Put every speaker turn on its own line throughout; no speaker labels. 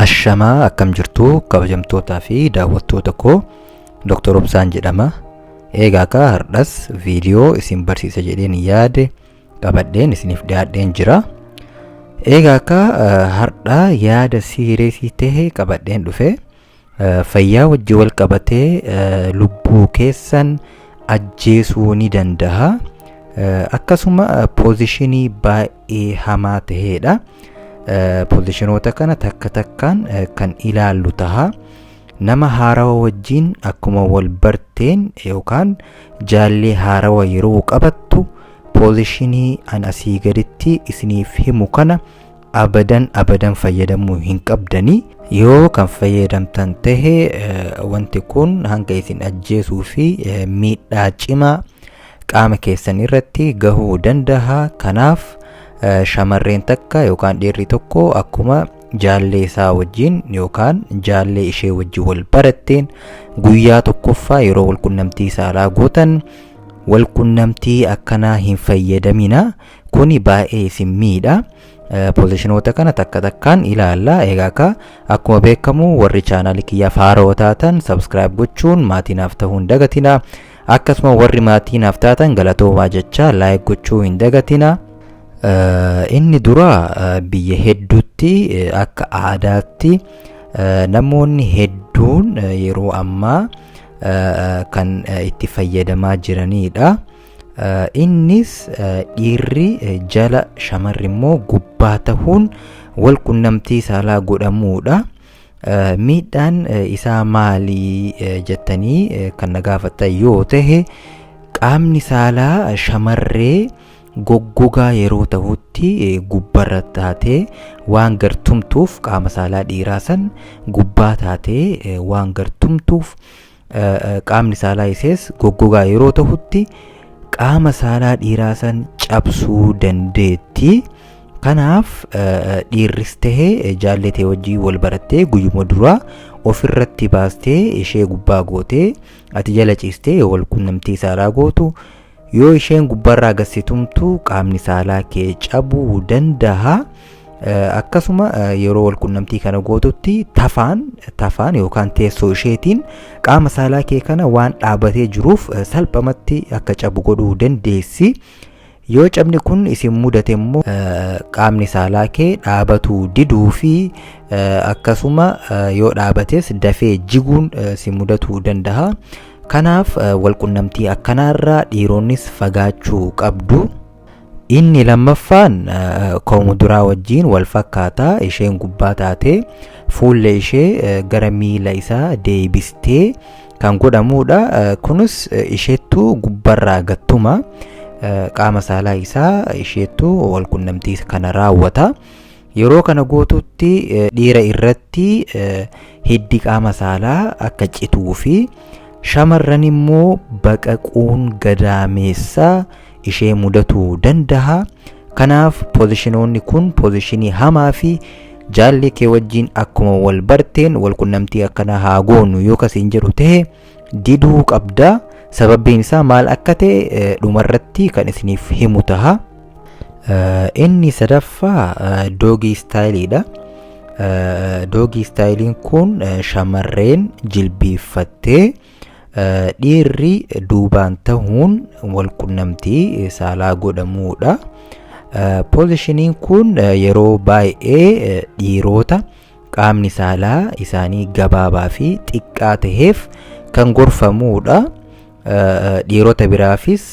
Ashamaa akkam jirtu kabajamtootaa fi daawwattoota koo Dr. Obsaan jedhama. Eegaa kaa hardhas viidiyoo isin barsiisa jedheen yaade qabadheen isiniif dhiyaadheen jira. Eegaa kaa hardhaa yaada siireesii ta'e qabadheen dhufe. Fayyaa wajji wal qabatee lubbuu keessan ajjeesuu ni danda'a. Akkasuma poozishinii baay'ee hamaa ta'eedha. Poozishinoota kana takka takkaan kan ilaallu taha. Nama haarawa wajjin akkuma wal barteen yookaan jaallee haarawa yeroo qabattu poozishinii an asii gaditti isiniif himu kana abadan abadan fayyadamuu hin qabdanii yoo kan fayyadamtan tahe wanti kun hanga isin ajjeesuu fi miidhaa cimaa qaama keessan irratti gahuu danda'a kanaaf shamarreen takka yookaan dhiirri tokko akkuma jaallee isaa wajjin yookaan jaallee ishee wajjin wal baratteen guyyaa tokkoffaa yeroo walqunnamtii saalaa gootan walqunnamtii akkanaa hin fayyadamina Kuni baay'ee isin miidha. Pozishinoota kana takka takkaan ilaalla. Egaa akka akkuma beekamu warri chaanaalii kiyyaa faaroo taatan sabskiraayib gochuun maatii naaf ta'uu hin dagatina. Akkasuma warri maatii naaf taatan galatoomaa jecha laayik gochuu hin dagatina. Inni dura biyya hedduutti akka aadaatti namoonni hedduun yeroo ammaa kan itti fayyadamaa jiranidha. Innis dhiirri jala shamarri immoo gubbaa tahuun wal qunnamtii saalaa godhamuudha. Miidhaan isaa maali jettanii kan na gaafattan yoo tahe qaamni saalaa shamarree goggogaa yeroo tahutti gubbarra taatee waan gartumtuuf qaama saalaa dhiiraa san gubbaa taatee waan gartumtuuf qaamni saalaa isees goggogaa yeroo tahutti qaama saalaa dhiiraa san cabsuu dandeetti. Kanaaf dhiirris tahee jaallee ta'e wajjin wal barattee guyyuma duraa ofirratti baastee ishee gubbaa gootee ati jala ciistee yoo wal qunnamtii saalaa gootu Yoo isheen gubbarraa gasse tumtu qaamni saalaa kee cabuu danda'a. Akkasuma yeroo walqunnamtii kana gootutti tafaan tafaan yookaan teessoo isheetiin qaama saalaa kee kana waan dhaabatee jiruuf salphamatti akka cabu godhuu dandeessi. Yoo cabni kun isin mudate immoo qaamni saalaa kee dhaabatuu diduu fi akkasuma yoo dhaabates dafee jiguun si mudatuu danda'a. Kanaaf walqunnamtii akkanaarraa dhiironnis fagaachuu qabdu. Inni lammaffaan koomuduraa wajjiin wal fakkaata isheen gubbaa taatee fuulla ishee gara miila isaa deebistee kan godhamuudha. Kunis isheettu gubbarraa gattuma qaama saalaa isaa isheettu walqunnamtii kana raawwata. Yeroo kana gootutti dhiira irratti hiddi qaama saalaa akka cituu fi shamarran immoo baqaquun gadaameessa ishee mudatuu danda'a. Kanaaf pozishinoonni kun pozishinii hamaa fi jaallee kee wajjin akkuma wal barteen wal qunnamtii akkanaa haa goonu yoo kasiin jedhu ta'e diduu qabda sababbiin isaa maal akka ta'e dhumarratti kan isiniif himu taha inni sadaffaa doogii istaayiliidha doogii istaayiliin kun shamarreen jilbiiffattee dhiirri duubaan tahuun walqunnamtii saalaa godhamuudha poozishiniin kun yeroo baay'ee dhiiroota qaamni saalaa isaanii gabaabaa fi xiqqaa taheef kan gorfamuudha. Dhiirota biraafis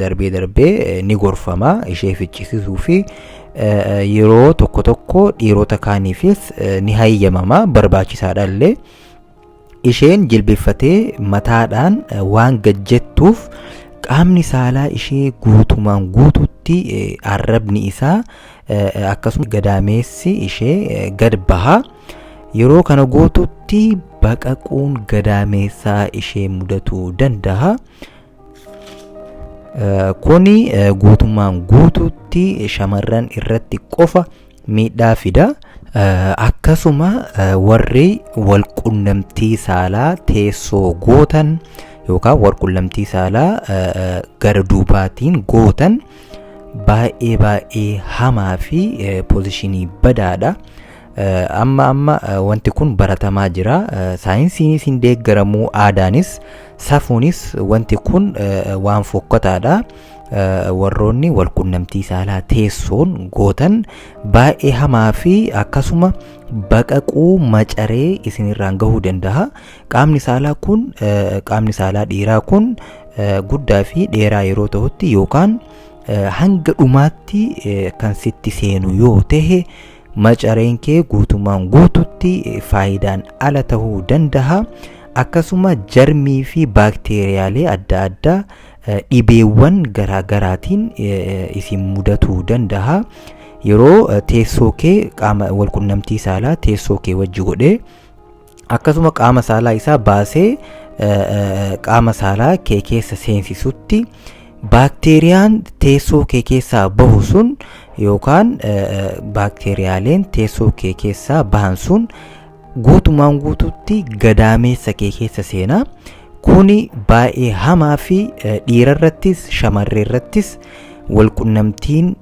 darbee darbee ni gorfama ishee ficcisiisuu fi yeroo tokko tokko dhiirota kaaniifis ni hayyamama barbaachisaadha illee. Isheen jilbeffatee mataadhaan waan gad jettuuf qaamni saalaa ishee guutumaan guututti arrabni isaa akkasumas gadaameessi ishee gad baha. Yeroo kana gootutti baqaquun gadaameessaa ishee mudatuu danda'a. Kuni guutummaan guutuutti shamarran irratti qofa miidhaa fida. Akkasuma warri wal qunnamtii saalaa teessoo gootan yookaan wal qunnamtii saalaa gara duubaatiin gootan baay'ee baay'ee hamaa fi poozishinii badaadha. Amma amma wanti kun baratamaa jira. Saayinsiinis hin deeggaramu, aadaanis, safuunis wanti kun waan fokkataadha. Warroonni walqunnamtii saalaa teessoon gootan baay'ee hamaa fi akkasuma baqaquu macaree isinirraan gahuu danda'a. Qaamni saalaa kun qaamni saalaa dhiiraa kun guddaa fi dheeraa yeroo ta'utti yookaan hanga dhumaatti kan sitti seenu yoo ta'e macareen kee guutumaan guututti faayidaan ala ta'uu danda'a akkasuma jarmii fi baakteeriyaalee adda addaa dhibeewwan garaagaraatiin isin mudatuu danda'a yeroo teessoo kee qaama walqunnamtii saalaa teessoo kee wajji godhee akkasuma qaama saalaa isaa baasee qaama saalaa kee keessa seensisutti baakteeriyaan teessoo kee keessaa bahu sun yookaan baakteeriyaaleen teessoo kee keessaa bahan sun guutumaan guututti gadaameessa kee keessa seenaa kuni baay'ee hamaa fi dhiirarrattis shamarreerrattis walqunnamtiin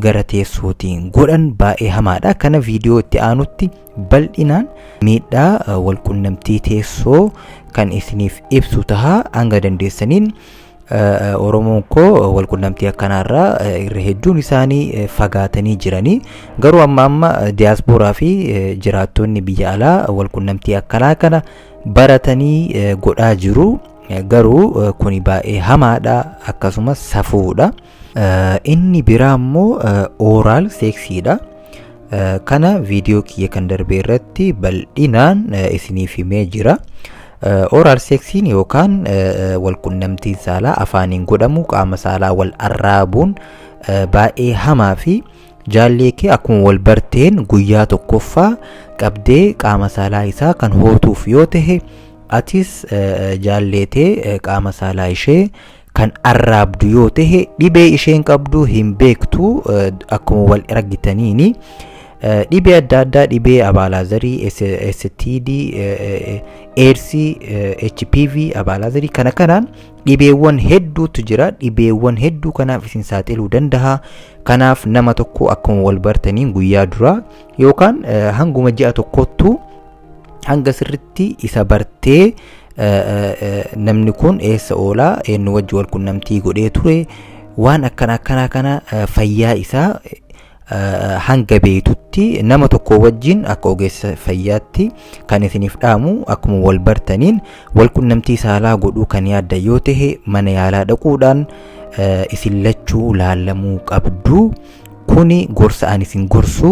gara teessootiin godhan baay'ee hamaadha kana viidiyoo itti aanutti bal'inaan miidhaa walqunnamtii teessoo kan isiniif ibsu tahaa hanga dandeessaniin Oromoon koo walqunnamtii akkanaarraa irra hedduun isaanii fagaatanii jiranii garuu amma amma diyaaspooraa fi jiraattonni biyya alaa walqunnamtii akkanaa kana baratanii godhaa jiru garuu kuni baay'ee hamaadha akkasumas safuudha. Inni biraa immoo ooraal seeksiidha. Kana viidiyoo kiyya kan darbee irratti bal'inaan isiniif himee jira. Ooraal seeksiin yookaan walqunnamtiin saalaa afaaniin godhamu qaama saalaa wal arraabuun baay'ee hamaa fi jaallee kee akkuma wal barteen guyyaa tokkoffaa qabdee qaama saalaa isaa kan hootuuf yoo ta'e atis jaalleetee qaama saalaa ishee kan arraabdu yoo ta'e dhibee isheen qabdu hin beektu akkuma wal argitaniini dhibee adda addaa dhibee abaalaazarii STD eersii HPV abaalaazarii kana kanaan dhibeewwan hedduutu jira dhibeewwan hedduu kanaaf isin saaxiluu danda'a kanaaf nama tokko akkuma wal bartaniin guyyaa duraa yookaan hanguma ji'a tokkottuu hanga sirritti isa bartee namni kun eessa oolaa eenyu wajji wal qunnamtii godhee ture waan akkana akkanaa kana fayyaa isaa hanga beektutti nama tokko wajjin akka ogeessa fayyaatti kan isiniif dhaamu akkuma wal bartaniin wal qunnamtii saalaa godhuu kan yaadda yoo ta'e mana yaalaa dhaquudhaan isin lachuu laallamuu qabdu kuni gorsa ani isin gorsu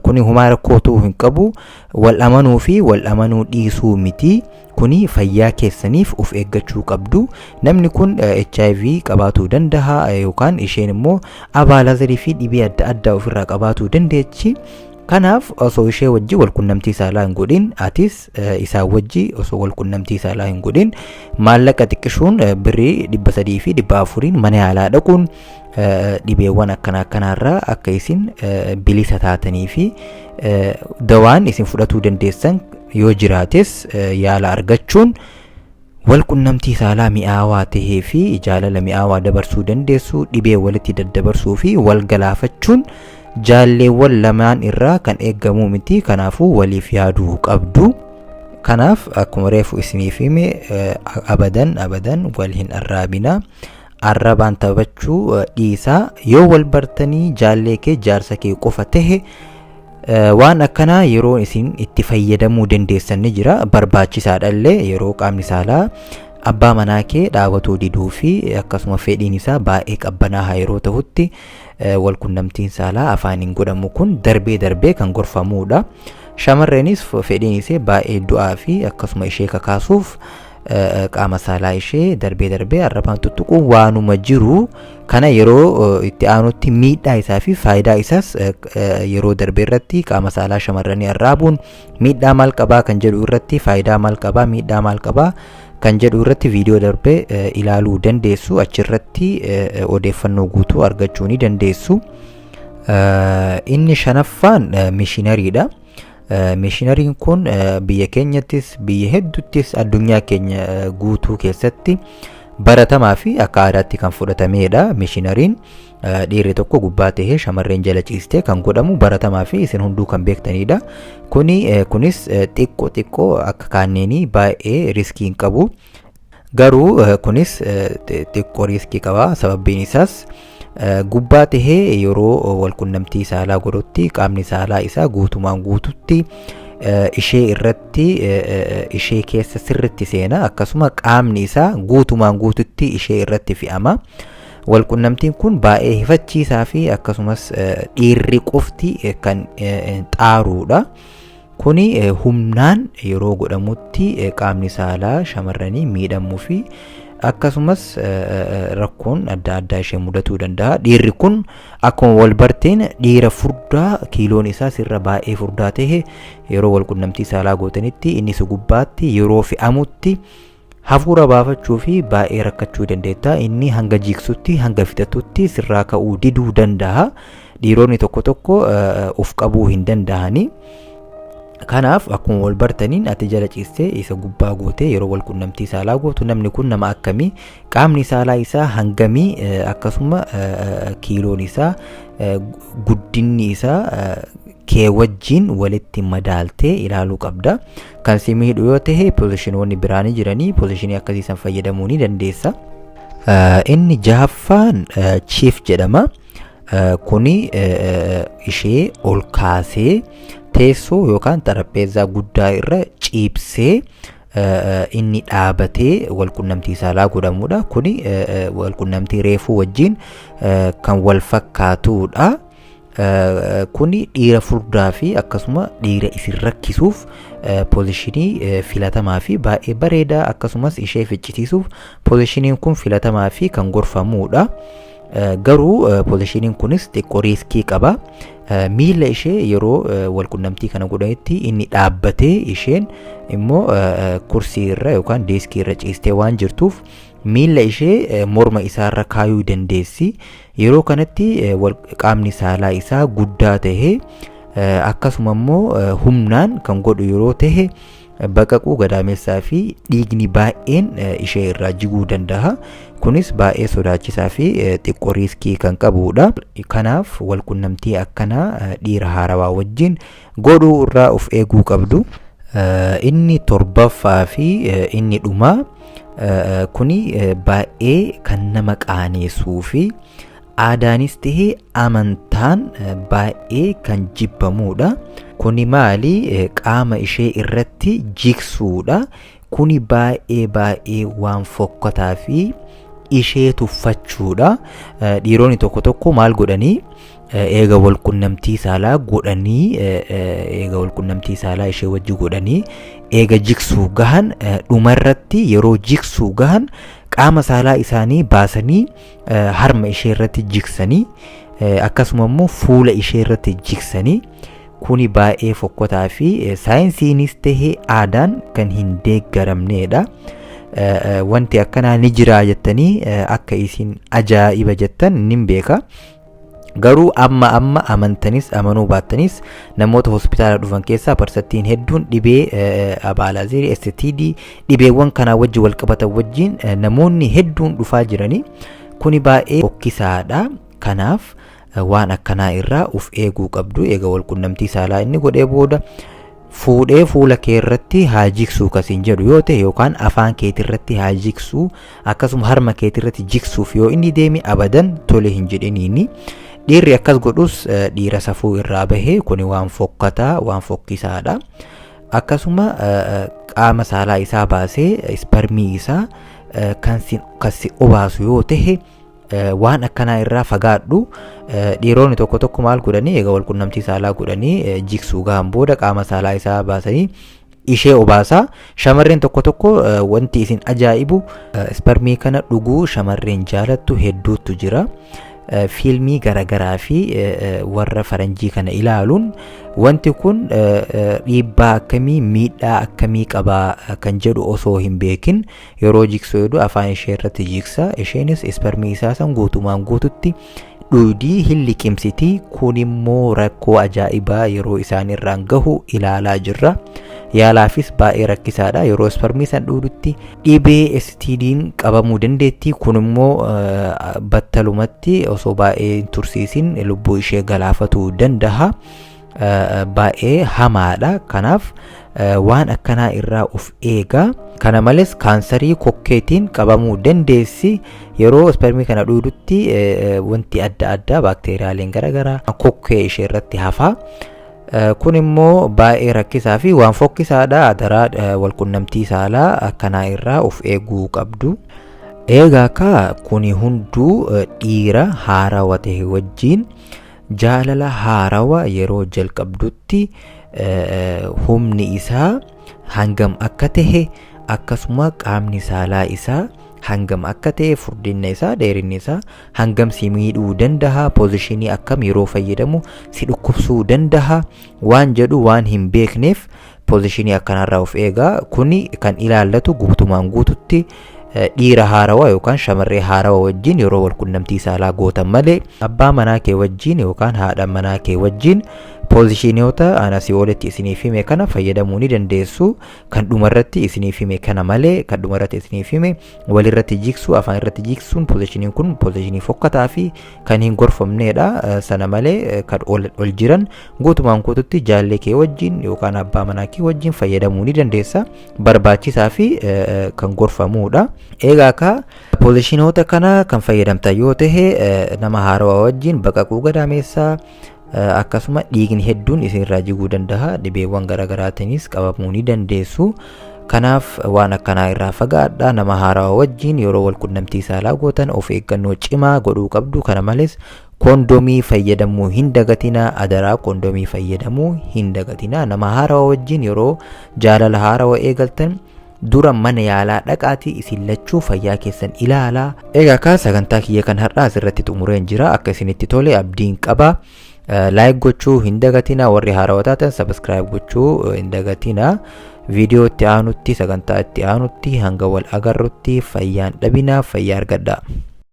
kuni humaa rakkootuu hin qabu Wal amanuu fi wal amanuu dhiisuu miti. Kuni fayyaa keessaniif of eeggachuu qabdu. Namni kun HIV qabaatuu danda'a yookaan isheen immoo abaalazarii fi dhibee adda addaa ofirraa qabaatuu dandeechi. Kanaaf osoo ishee wajji wal qunnamtii saalaa hin godhin atis isaa wajji osoo wal qunnamtii saalaa hin godhin maallaqa xiqqishuun birrii dhibba sadii fi dhibba afuriin mana yaalaa dhaquun dhibeewwan akkana akkanaarraa akka isin bilisa taatanii fi Eh, dawaan isin fudhatuu dandeessan yoo jiraates eh, yaala argachuun wal qunnamtii saalaa mi'aawaa tahee fi jaalala mi'aawaa dabarsuu dandeessu dhibee walitti daddabarsuu fi wal galaafachuun jaalleewwan lamaan irraa kan eegamuu miti kanaafuu waliif yaaduu qabdu kanaaf akkuma reefu isiniif hime eh, abadan abadan wal hin arraabina arrabaan taphachuu dhiisaa yoo wal bartanii jaallee kee jaarsa kee qofa tahe waan akkanaa yeroo isin itti fayyadamuu dandeessan ni jira barbaachisaadha illee yeroo qaamni saalaa abbaa manaa kee dhaabatuu diduu fi akkasuma fedhiin isaa baay'ee qabbanaaha yeroo tahutti wal qunnamtiin saalaa afaaniin godhamu kun darbee darbee kan gorfamuudha. Shamarreenis fedhiin isee baay'ee du'aa fi akkasuma ishee kakaasuuf qaama saalaa ishee darbee darbee arrabaan tuttuquun waanuma jiru kana yeroo itti aanutti miidhaa isaa fi faayidaa isaas yeroo darbee irratti qaama saalaa shamarranii arraabuun miidhaa maal qabaa kan jedhu irratti faayidaa maal qabaa miidhaa maal qabaa kan jedhu irratti viidiyoo darbee ilaaluu dandeessu achirratti odeeffannoo guutuu argachuu ni dandeessu. Inni shanaffaan mishinariidha. Mishinariin kun biyya keenyattis biyya hedduttis addunyaa keenya guutuu keessatti baratamaa fi akka aadaatti kan fudhatameedha. Mishinariin dhiirri tokko gubbaa ta'ee shamarreen jala ciistee kan godhamu baratamaa fi isin hunduu kan beektaniidha. Kuni kunis xiqqoo xiqqoo akka kaanneenii baay'ee riskii hin qabu. Garuu kunis xiqqoo riiskii qaba sababbiin isaas gubbaa tahee yeroo walqunnamtii saalaa godhutti qaamni saalaa isaa guutumaan guututti ishee irratti ishee keessa sirritti seena akkasuma qaamni isaa guutumaan guututti ishee irratti fi'ama. Walqunnamtiin kun baay'ee hifachiisaa fi akkasumas dhiirri qofti kan xaaruudha. Kuni humnaan yeroo godhamutti qaamni saalaa shamarranii miidhamuu fi akkasumas rakkoon adda addaa ishee mudatuu danda'a. Dhiirri kun akkuma wal barteen dhiira furdaa kiiloon isaa sirra baay'ee furdaa ta'e yeroo wal qunnamtii saalaa gootanitti inni si gubbaatti yeroo fe'amutti Hafuura baafachuuf baay'ee rakkachuu dandeetta. Inni hanga jiiksutti, hanga fixatutti sirraa ka'uu diduu danda'a. Dhiironni tokko tokko of qabuu hin danda'ani. Kanaaf akkuma wal bartaniin ati jala ciistee isa gubbaa gootee yeroo wal qunnamtii saalaa gootu namni kun nama akkamii qaamni saalaa isaa hangamii akkasuma kiiloon isaa guddinni isaa kee wajjiin walitti madaaltee ilaaluu qabda. Kan si miidhu yoo ta'e pozishinoonni biraa ni jiranii pozishinii akkasii san fayyadamuu ni dandeessa. Inni jahaffaan chief jedhama. Kuni ishee ol kaasee teessoo yookaan xarapheezaa guddaa irra ciibsee inni dhaabatee walqunnamtii saalaa godhamudha. Kuni walqunnamtii reefuu wajjin kan wal fakkaatudha. Kuni dhiira furdaa fi akkasuma dhiira isin rakkisuuf poozishinii filatamaa fi baay'ee bareedaa akkasumas ishee ficcisiisuuf poozishiniin kun filatamaa fi kan gorfamuudha. Garuu poozishiniin kunis xiqqoo riiskii qaba. Miila ishee yeroo walqunnamtii kana godhanitti inni dhaabbatee isheen immoo kursii irra yookaan deeskii irra ciistee waan jirtuuf miila ishee morma isaarra kaayuu dandeessi. Yeroo kanatti qaamni saalaa isaa guddaa tahe akkasuma immoo humnaan kan godhu yeroo tahe baqaquu gadaamessaa fi dhiigni baay'een ishee irraa jiguu danda'a. Kunis baay'ee sodaachisaa fi xiqqoo riiskii kan qabudha. Kanaaf walqunnamtii akkanaa dhiira haarawaa wajjin godhuu irraa of eeguu qabdu. Inni torbaffaa fi inni dhumaa kuni baay'ee kan nama qaaneessuu fi aadaanis ta'ee amantaan baay'ee kan jibbamuudha. Kuni maali qaama ishee irratti jigsuudha. Kuni baay'ee baay'ee waan fokkataa fi ishee tuffachuudha. Dhiironni tokko tokko maal godhanii eega wal qunnamtii saalaa godhanii eega wal qunnamtii saalaa ishee wajji godhanii eega jiksuu gahan dhumarratti yeroo jiksuu gahan qaama saalaa isaanii baasanii harma ishee irratti jiksanii akkasuma immoo fuula ishee irratti jiksanii kuni baay'ee fokkotaa fi saayinsiinis tahee aadaan kan hin deeggaramneedha. Wanti akkanaa ni jiraa jettanii akka isin ajaa'iba jettan nin beeka. Garuu amma amma amantanis amanuu baattanis namoota hospitaala dhufan keessaa parsattiin hedduun dhibee abaalaazirii STD dhibeewwan kanaa wajjin wal qabatan wajjin namoonni hedduun dhufaa jiranii kuni baay'ee fokkisaadha. Kanaaf waan akkanaa irraa uf eeguu qabdu eega wal qunnamtii saalaa inni godhee booda fuudhee fuula kee irratti haa jiksuu ka siin jedhu yoo ta'e yookaan afaan keeti irratti haa jiksuu akkasuma harma keeti irratti jiksuuf yoo inni deeme abadan tole hin jedhiniini. Dhiirri akkas godhus eh, dhiira safuu irraa bahee kuni waan fokkataa waan fokkisaadha. Akkasuma eh, eh, qaama saalaa isaa baasee isparmii isaa eh, kan si- kan si obaasu yoo ta'e waan akkanaa irraa fagaadhu dhiironni tokko tokko maal godhanii egaa walqunnamtii saalaa godhanii jiksuu gahan booda qaama saalaa isaa baasanii ishee obaasaa shamarreen tokko tokko wanti isin ajaa'ibu isparmii kana dhuguu shamarreen jaalattu hedduutu jira fiilmii garaagaraa fi warra faranjii kana ilaaluun wanti kun dhiibbaa akkamii miidhaa akkamii qabaa kan jedhu osoo hin beekin Yeroo jiksuu hedduu afaan ishee irratti jiksa. Isheenis isparmii isaa san guutumaan guututti dhuydii hin liqimsiti. Kun immoo rakkoo ajaa'ibaa yeroo isaan irraan gahu ilaalaa jirra. Yaalaafis baay'ee rakkisaadha. Yeroo isparmii san dhuudutti dhibee STD'n qabamuu dandeetti. Kun immoo battalumatti osoo baay'ee hin tursiisin lubbuu ishee galaafatuu danda'a. baay'ee hamaadha kanaaf waan akkanaa irraa of eegaa kana malees kaansarii kokkeetiin qabamuu dandeessi yeroo ispermii kana dhuudutti wanti adda addaa baakteeriyaaleen garaagaraa kokkee ishee irratti hafaa kun immoo baay'ee rakkisaa fi waan fokkisaadha adaraa walqunnamtii saalaa akkanaa irraa of eeguu qabdu. Eegaa kaa kuni hunduu dhiira haarawa ta'e wajjin Jaalala haarawa yeroo jalqabdutti humni isaa hangam akka ta'e akkasuma qaamni saalaa isaa hangam akka ta'e furdinna isaa dheerinni isaa hangam si miidhuu danda'a poozishinii akkam yeroo fayyadamu si dhukkubsuu danda'a waan jedhu waan hin beekneef Poozishinii akkanaarraa of eegaa kuni kan ilaallatu guutumaan guututti dhiira haarawaa yookaan shamarree haarawaa wajjin yeroo wal qunnamtii saalaa gootan malee abbaa manaa kee wajjin yookaan haadha manaa kee wajjin poozishiniyoota aan asii olitti isiniif hime kana fayyadamuu ni dandeessu kan dhumarratti isiniif hime kana malee kan dhumarratti isiniif hime walirratti jiksuu afaan irratti jiksuun poozishiniin kun poozishinii fokkataa fi kan hin gorfamneedha sana malee kan ol jiran guutumaan guututti jaallee kee wajjin yookaan abbaa manaa kee wajjin fayyadamuu ni dandeessa barbaachisaa fi kan gorfamuudha eegaa ka poozishinoota kana kan fayyadamta yoo ta'e nama haarawaa wajjin baqaquu gadaameessaa akkasuma dhiigni hedduun isinirraa jiguu danda'a dhibeewwan garaagaraatiinis qabamuu ni dandeessu kanaaf waan akkanaa irraa fagaadha nama haarawaa wajjiin yeroo wal qunnamtii saalaa gootan of eeggannoo cimaa godhuu qabdu kana malees koondomii fayyadamuu hin dagatinaa adaraa koondomii fayyadamuu hin dagatinaa nama haarawaa wajjiin yeroo jaalala haarawaa eegaltan Dura mana yaalaa dhaqaatii isin lachuu fayyaa keessan ilaalaa. Egaa kaa sagantaa kiyya kan har'aa asirratti xumureen jira akka isinitti tole abdiin qaba. Laayik gochuu hin dagatina warri haarawaa taatan sabiskiraayib gochuu hin dagatina. Viidiyoo itti aanutti sagantaa itti aanutti hanga wal agarrutti fayyaan dhabinaaf fayyaa argadhaa.